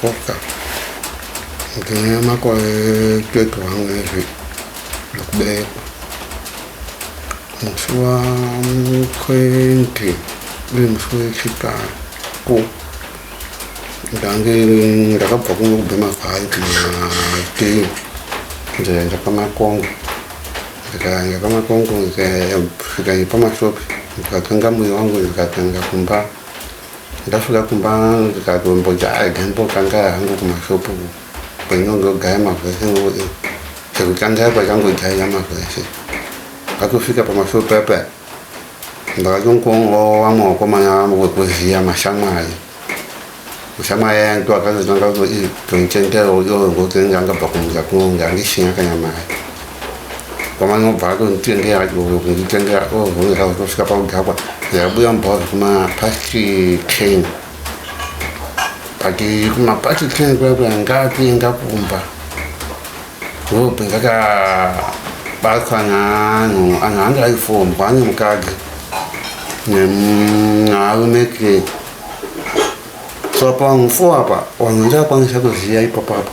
Koka ndine makore 21 ezvi zvekuberekwa musi wa 20 uri musi wechitatu ndange ndakabva kuno kubhema vhaidhi matii ndikaenda pamakongo ndikaenda pamakongo ndikasvika pamashopi ndikatenga moyo wangu ndikatenga kumba Ndasvika kumba ndikatombojaga ndotanga hangu kumashopu kwainongogaya mavhese ngoe chekutanga kwachangojaira mavhese akufika pamashopu apa ndakatongongowa vamwe vakomana vamwe wekuziya mashamwari mushamwari aya ndo akazotanga kuti tonitendera uyo ngokuti anga angabva kumuza kunonge andisina kana mari kwamana obva atonditengera kunditengera ovhurira kutosvika pakudhakwa yabuya mubhawa zvekumapasti ten but kumapasti ten kuya kuya ngakuenda kumba ndobva ndakabatwa naanhu anhu ange aifombwa nemukadzi nearume ke so pangu fo apa vanhu ndakwanisa kuziva ipapapo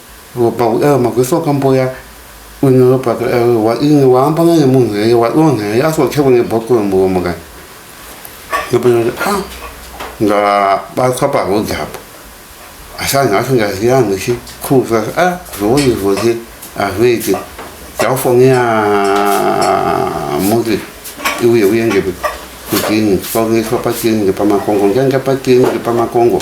Ropa uya magwesa wakamboya une ropa wa ini waamba naye munhu heye wa don heye asi wacha kune boko muromo ka nopenya ah nga batwa pa road hapo asanga athi ngaziya ngithi khuza ah zoyi zoyi aveti yawufonela muzi iwuye uye nje kudini sifakuniswa patini nje pamakongo nje nje patini nje pamakongo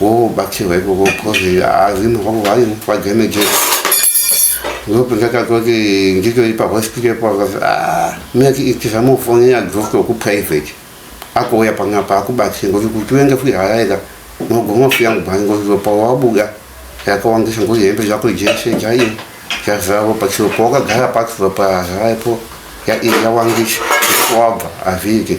wobatsirwa ikoko coz hazimo vavo vanemufadzi emeje ndopo ndakatoti nditori pahospital pavati ah, miyati itisa mufoni yadhokto kuprivate akouya panapa akubatsira ngozi kuti uende kuharaiza mogoma kuya mubhani ngozi ropa wabuda yakawandisa ngozi hembe zvako jese jaiyo yazara ropa chiro pawakagara pasi ropa yazaraipo yawandisa wabva hazviite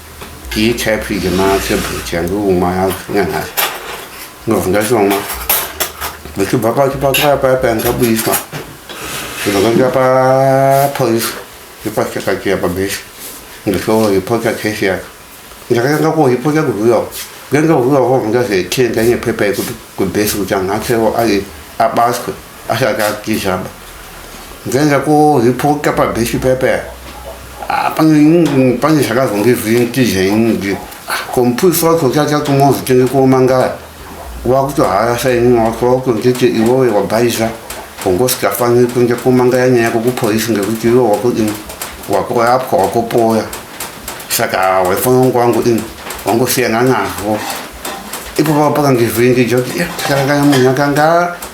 Iyi type yema tablet yandiumwa yacho nyanhasi ndobva ndachomwa ndichibva pachipatara paya paya ndabudiswa ndikaenda papolice yepachakatiya pabhesi ndichoripota case yacho ndakatanga kuripota kuzviyawo ndanga kuzviyawo ndazotenda nepepa yekuti kubhesi kuti anhu achewo ari abaswe Asaka kizhamba. Nzenza ko hipoka pa beshi pepe. Apange pange zvakazonge zvintije ingi. Kompusa ko chacha kumozi tenge ko mangaya. Wakuto haya sai ni wako ko tete iwowe wabaiza. Kongosi kafange kunje ko mangaya nyaya ko kupolisi ngekuti iwo wako ini. Wako yapwa wako poya. Saka wefono kwangu ini. Wangu siyana nazvo. Ipo pakange zvintije. Saka munhu akanga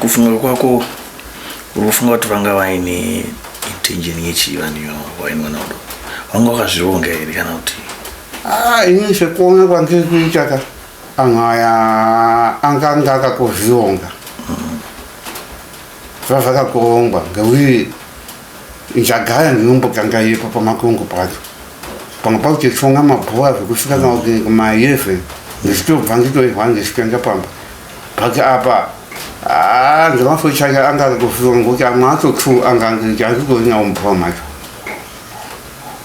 kufunga kwako uri kufunga kuti vanga vaine intention yechii vanhu ivavo vaine mwana udo vanga vakazvironga here kana kuti ah, ini sekuona kwandiri kuita ka anhu aya anganga akakuzvironga zvazvakakurongwa ngekuti Njagaya ndinomboganga ipo pamakongo pacho pamwe pakuchichonga mabhuwa zvekusvika kana kuti kumayeve ndichitobva nditoihwa ndichitoenda pamba pake apa ah, ndemaso chake anga akutofirwa ngokuti amwe acho two anga anditorinawo mubhuwa macho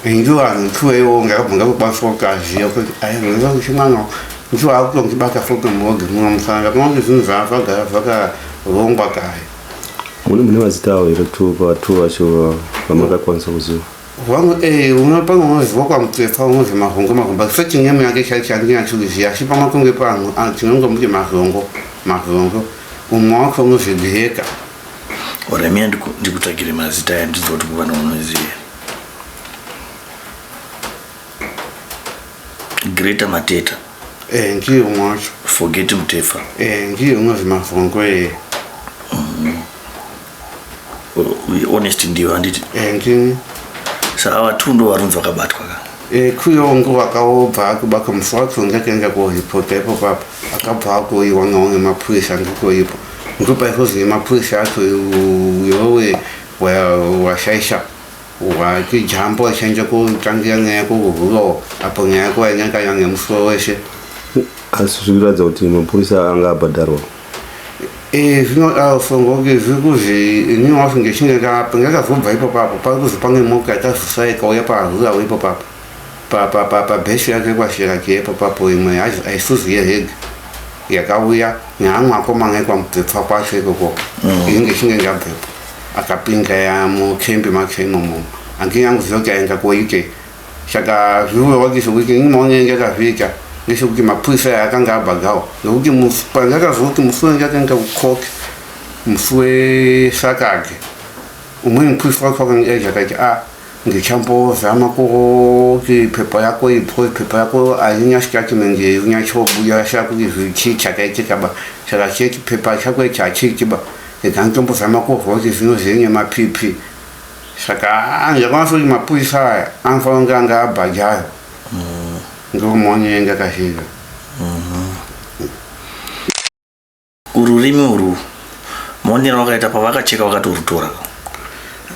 ndiwo anhu two iwo ngakabva ngakukwanisa kuti aziva kuti aizonza kuti mwana ndiwo akutongibata foto muogi muno musana ndakuona kuti zvinhu zvaazvagara zvakarongwa kare mune mune mazita awo here kuti vatu vacho vamakakwanisa kuziva vamwe eh, umwe pamwe unoziva kwamutsefa unozi mahongo mahomba so chinyama yake chaichaandinyachikuziva asi pamakunge panhu ah, tinongomuti mahongo mahongo umwe wacho unozi dhiheka oremia ndikutsvagire mazita aya ndiziva kuti kuvana unoziva greater mateta Eh ndiye umwe wacho. Forget Mutefa. Eh ndiye umwe zvimavhongo eh. Mm. Uh, honest ndiyo handiti? Eh ndini. Saka vatu ndo varunzi vakabatwa ka. Eh kuyo ngo vakawobva akuba kamusi wacho ngakaenda kuhipota ipo papa. Akabva akuiwa ngaonge mapurisa ndiko ipo. Ndipo paikozine mapurisa acho uyowe washaisha. Wa Wati jambo achange kutangira nyaya yako kuhuro apo nyaya yako yanyanganya nemusuwo weshe. asi zviri kuratidza kuti mapurisa anga abhadharwa Eh, zvinoda ufungo kuti zviri kuzi inini wacho ndichinge ndapo ndakazobva ipapo apo pari kuzi pane moka yakazosara ikauya pahura ipapo apo Pa- pa- pa- pabhesi yake kwashiraki ipapo apo imwe yacho aisuzi yehege yakauya neamwe akomana ekwamupfepfa kwacho ikoko ini ndichinge ndabvepo akapinga yamo kembe make momo ange anguziva kuti ayenga kuwaite saka zviwe wakise kuti nyuma wanenge akazviita ngisho kuti mapurisa aya akanga abhagawo nokuti pange akaziva kuti musi wange akaenda kucoke musi wesakage umweni mupurisa wacho wakange aizvakaiti a ah, ndichambozama kuti pepa yako because pepa yako haina statement inyachobuya sha kuti zvichii chakaitika ba saka cheti pepa chako ichi hachiiti ba ega nditombozama kuzwa kuti zvino zviri nemapipi saka ah, ndakaona sekuti mapurisa aya anofanira kunge anga abhajayo mm. ndomonyenga kazhinji mm-hmm. Ururimi urwu muonero wakaita pavakacheka vakatorutora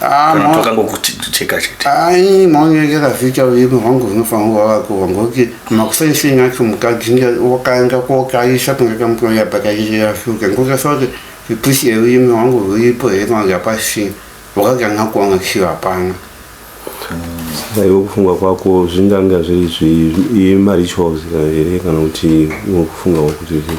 ah, kana pakangokucheka chete ai maonekera vita ururimi hwangu hunofanira kuva vakuva ngokuti makusaisenyi acho mukadzi wakaenda kokaisa kunge kamutoya pakaiyafuka ngokasa kuti ipusi yerurimi hwangu ruripo here kana yapasina wakaganga kuona kusiro hapana aiwe kufunga kwako zvinganga zviri zvimarituals here kana kuti kufunga kwakuti zvii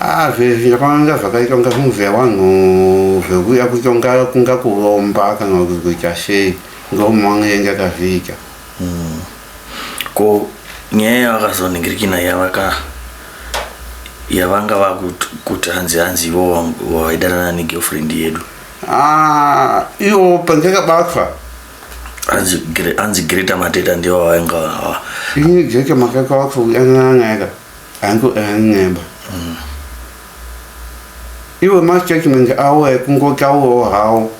Ah zvezvi zvakanga zvakaita kunga zvinobveya wanhu zvekuya kuita kunga kunga kuromba kana kuti kuita sei kunga umwe wange yanga akazviita hmm. ko nyaya yavakazoningirikina yavaka yavanga vakuti hanzi hanzi ivo waidanana negirlfriend yedu ah, ivo pandakabatwa hanzi greta mateta ndivo vainga vava ini greta makakabatwa kudanana nayaka hangu an'emba mm. iwe mastatement awo ekungotaurawo hawo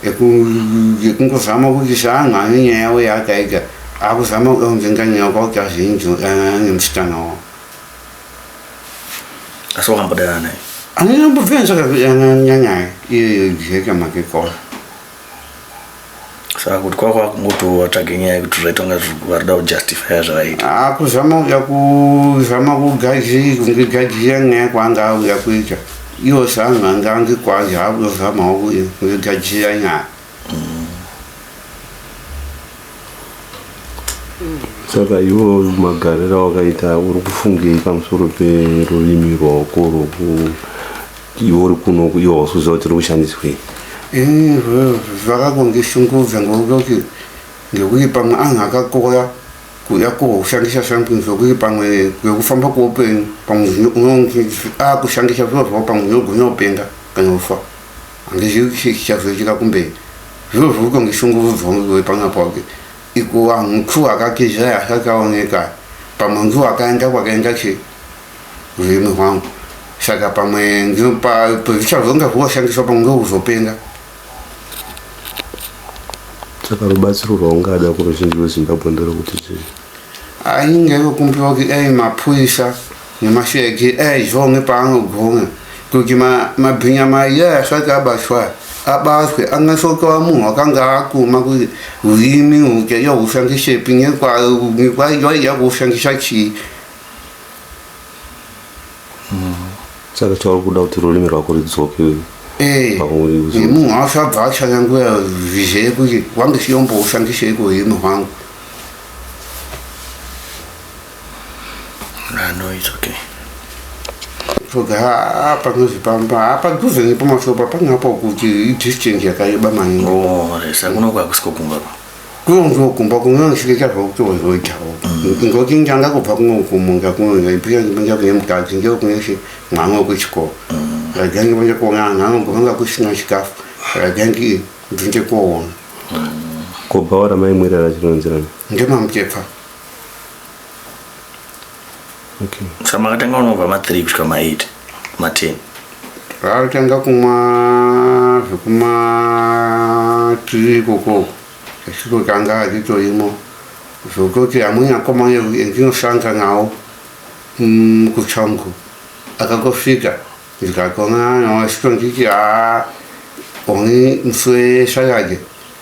ekungozama kuti saanga ane nyaya yawo yaakaita akuzama kuonzenga nyaya kwakuti azinzi nemusikana wawo asi wakambodanana naye anonyambobvenzakanyanyaya iyoyo jeka makekora saka kuti kwava kwava kungoti vatsvage nyaya yekuti zvaita kunga zviri- vari kuda kujustifya zvavaita Ah, kuzama uya kuzama kugaji kunge gaji yanga yakwanga auya kuita iwo sanhu ange ange kwazi haakuzamawo kuya kunge gaji yanyaya saka iwo magariro awakaita uri kufungei pamusoro perurimi rwaoko rwoku iwo uri kuno iwo hausiuziva kuti uri kushandiswei ini zvakakundishungudza ngokuti ngekuti pamwe anhu akakora kuda kushandisa something zvokuti pamwe kwekufamba kweupenyu pamwe unoakushandisa zviro zvavo pamwe unogona kupenga kana kufa Handizivi chii chichazoitika kumberi. Zviro zviri kutondishungurudzawo ndiwe pano pake. Ikuwa mtu akatiza asati aoneka. Pamwe ndiwo akaenda kwakaenda chi urimi hwangu. Saka pamwe ndino pa pazvichazonga zvoshandiswa pamwe ndokuzopenga. Saka rubatsiro rwaungada kuruzhinji rweZimbabwe nderokuti chii? Ainge yokumbira kuti dai mapurisa Nyamashu yake aizvonge paanogonga kuti mabhinya ma maiye asati abatwa abatwe angasoka vamunhu wakanga akuma kuti urimi uke yohushandisepi nyekwaiya kuhushandisa chii hmm. saka chauri kuda kuti rurimi rwako ridzoke eh, munhu asabva achanyanguya vizee kuti wange siyombohushandisei kuurimi hwangu Ah, no, it's okay. Toga ah, panozi pamba ah, padhuze nepamasoro papanga apa kuti idistance yakareba maningi. Oh, resa kunoko hakusiko kumba ko. Kunonzwa kumba kunonosvika zvokuti wozoitawo. Mm. Ngokuti ndanga kubva kunokumunga kunonga ipira ndipinda kune mukadzi ndiyo kuneshe mwana wekuchikoro. Mm. Rajangi panja kuona anhu anogona kusina chikafu. Rajangi ndinge kuona. Mm. Kubhaora maimwirara chinonzirana. Ndemamutepfa. sa makatanga unobva ma3 kusvika ma8 ma10 raatanga kumwa zvekuma3 ikoko achitotanga achitoimwa zvokutoti amweni akoma endinosanga nawo mm, kuchangu akangosvika ndikatona nawo achitonditi haa oni muswe shayage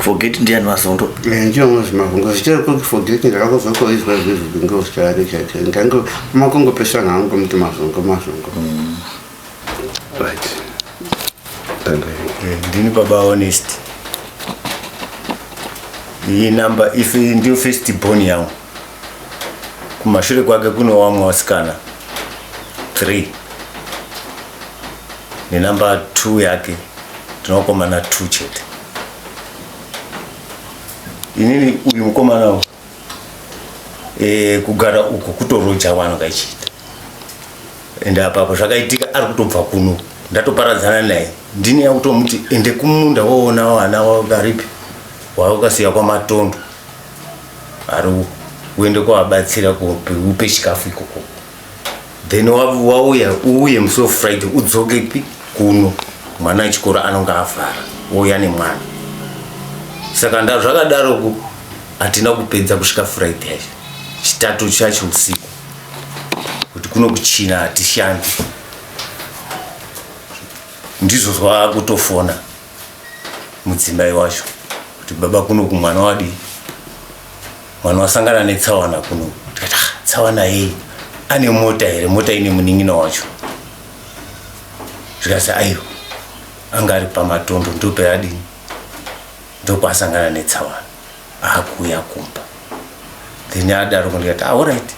forget ndiani mazondo eh, ndionozi mavhungo zichaikonge forget ndakakuzokoizwa izvezvi ngozichari chaicho ndange makongopesana hangu muti mazongo mazongo mm. right eh, ndini baba honest iyi number if ndiyo first born yangu Kumashure kwake kune wamwe wasikana 3 nenumber 2 yake tinokomana 2 chete. Inini uyu mukomana uyu e, kugara uko kutoroja wano kaichiita ende apapo zvakaitika ari kutobva kuno ndatoparadzana naye ndini yakutomuti ende kumunda woona vana waripi waukasiya kwamatondo ari uende kwavabatsira kupe upe chikafu ikoko then wauya uuye musi wefriday udzoke pi kuno mwana wechikoro anonge avhara wouya nemwana saka nda zvakadaroku hatina kupedza kusvika friday yacho chitatu chacho usiku kuti kuno kuchina hatishandi ndizvo zvavakutofona mudzimai wacho kuti baba kuno kumwana wadii mwana wasangana netsawana kuno tikati ah, tsawana yei ane mota here mota ine munin'ina wacho zvikasi aiwa anga ari pamatondo ndopeadini ndokwaasangana netsawana aakuuya kumba then adaro kundikati aorit ah,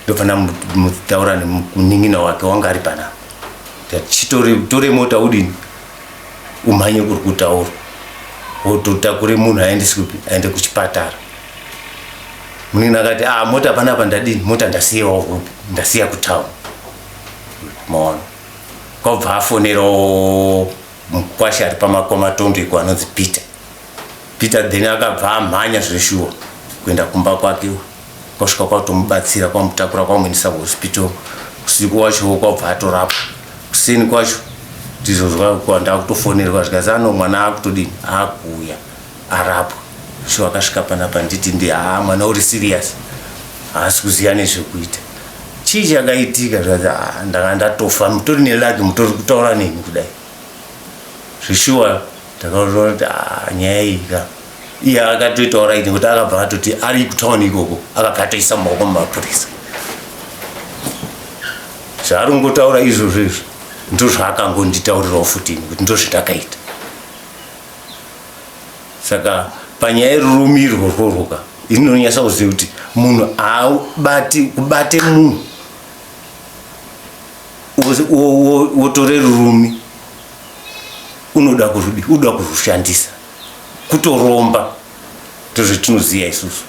ndofana mutaura nemunin'ina wake wanga ari panapa tore mota udini umhanye kuri kutaura wototakure munhu aendesi kupi aende kuchipatara munini akati ah mota panapa ndadini mota ndasiyawo kupi ndasiya kutown maona kwabva afonerawo mukwasha ari pamakwamatondo iko anonzi peter peter then akabva amhanya zveshuwa kuenda kumba kwake kwasvika kwatomubatsira kwamutakura kwamuendesa kuhospital usiku wacho kwabva atorapwa kuseni kwacho ndizozwa kuwa ndakutofonerwa zvikanzi ano mwana akutodini akuuya arapwa so akasvika panapa nditi ndi haa ah, mwana uri serious haasi kuziva nezvekuita chii chakaitika zvikanzi ah, ndanga ndatofa mutori nelaki mutori kutaura neni kudai zvishuwa ndakaona kuti ah, nyaya iyi ka iye akatoita oraiti nekuti akabva atoti ari kutauni ikoko akabva atoisa maoko mumapurisa zvaari kungotaura izvozvo izvo ndozvaakangonditaurirawo futi nekuti ndozvitakaita saka panyaya yerurumirwo rworwoka ini ndinonyasa kuziva kuti munhu aabati kubate munhu wotore rurumi unoda kurudi unoda kurushandisa kutoromba ndozvatinoziva isusu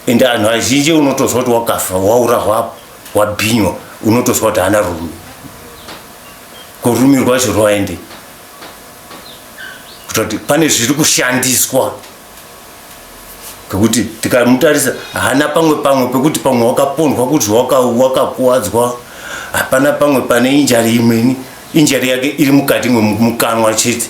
ende anhu azhinji unotozwa kuti wakafa waura hwapo wabhinywa unotozwa kuti haana rume korume rwacho rwaende kutoti pane zviri kushandiswa ngekuti tikamutarisa haana pamwe pamwe pekuti pamwe wakapondwa kuti wakakuwadzwa hapana pamwe pane injari imweni injari yake iri mukati mwemukanwa chete